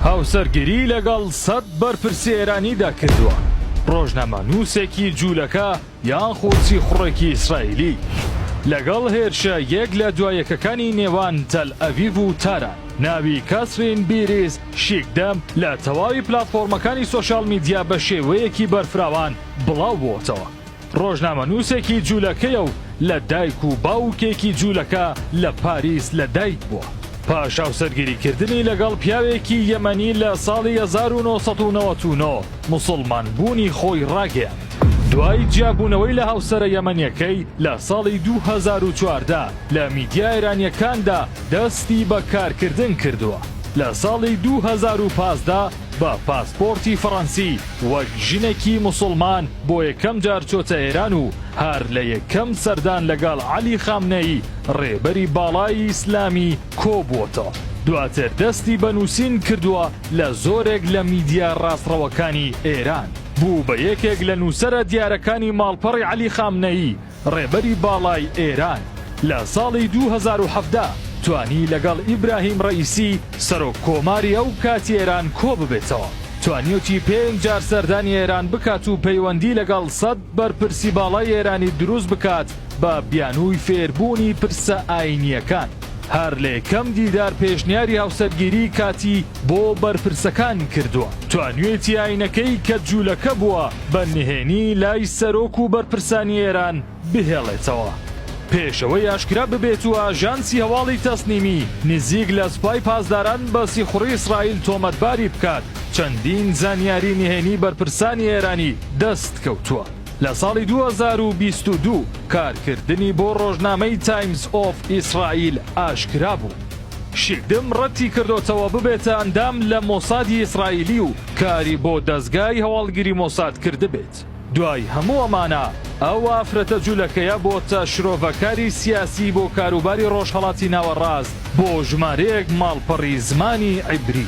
هاوسەرگیری لەگەڵ سەد بەرپرسی ئێرانیدا کردووە ڕۆژنامەنووسێکی جوولەکە یان خۆچی خوڕێکی ئیسرائیلی لەگەڵ هێرشە یەک لە دوایەکەکانی نێوان تەل ئەڤیڤ و تاران ناوی کەسرین بیریز شیکدەم لە تەواوی پلاتفۆرمەکانی سۆشیال میدیا بە شێوەیەکی بەرفراوان بڵاو بووەتەوە. ڕۆژنامەنووسێکی جوولەکەیە و لە دایک و باوکێکی جوولەکە لە پاریس لە دایک بووە. پاش هاوسەرگیریکردنی لەگەڵ پیاوێکی یەمەنی لە ساڵی هەزار و نۆ سەد و نەوەد و نۆ موسڵمانبوونی خۆی ڕاگەیاند. دوای جیابوونەوەی لە هاوسەرە یەمەنییەکەی لە ساڵی دوو هەزار و چواردە لە میدیا ئێرانییەکاندا دەستی بە کارکردن کردووە. لە ساڵی دوو هەزار و پازدە بە پاسپۆرتی فەڕەنسی وەک ژنێکی موسڵمان بۆ یەکەم جار چۆتە ئێران و هەر لە یەکەم سەردان لەگەڵ عەلی خامنەیی ڕێبەری باڵای ئیسلامی کۆبووەتەوە دواتر دەستی بە نووسین کردووە لە زۆرێک لە میدیا ڕاستڕەوەکانی ئێران بوو بە یەکێک لە نووسەرە دیارەکانی ماڵپەڕی عەلی خامنەیی ڕێبەری باڵای ئێران لە ساڵی دوو هەزار و حەڤدە توانی لەگەڵ ئیبراهیم ڕەئیسی سەرۆک کۆماری ئەو کاتی ئێران کۆ ببێتەوە. توانیوتی پێنج جار سەردانی ئێران بکات و پەیوەندی لەگەڵ سەد بەرپرسی باڵای ئێرانی دروست بکات بە بیانووی فێربوونی پرسە ئایینییەکان. هەر لە یەکەم دیدار پێشنیاری هاوسەرگیریی کاتی، بۆ بەرپرسەکان کردووە توانیوێتی ئاینەکەی کە جولەکە بووە بە نهێنی لای سەرۆک و بەرپرسانی ئێران بهێڵێتەوە پێش ئەوەی ئاشکرا ببێت و ئاژانسی هەواڵی تەسنیمی نزیک لە سوپای پاسداران بە سیخوڕی ئیسرائیل تۆمەتباری بکات چەندین زانیاری نهێنی بەرپرسانی ئێرانی دەست کەوتووە. لە ساڵی دوو هەزار و بیست و دوو کارکردنی بۆ ڕۆژنامەی تایمز ئۆف ئیسرائیل ئاشکرا بوو. شیدم ڕەتی کردۆتەوە ببێتە ئەندام لە مۆسادی ئیسرائیلی و کاری بۆ دەزگای هەواڵگری مۆساد کردبێت. دوای هەموو ئەمانە ئەو ئافرەتە جولەکەیە بۆتە شرۆڤەکاری سیاسی بۆ کاروباری ڕۆژهەڵاتی ناوەڕاست بۆ ژمارەیەک ماڵپەڕی زمانی عیبری.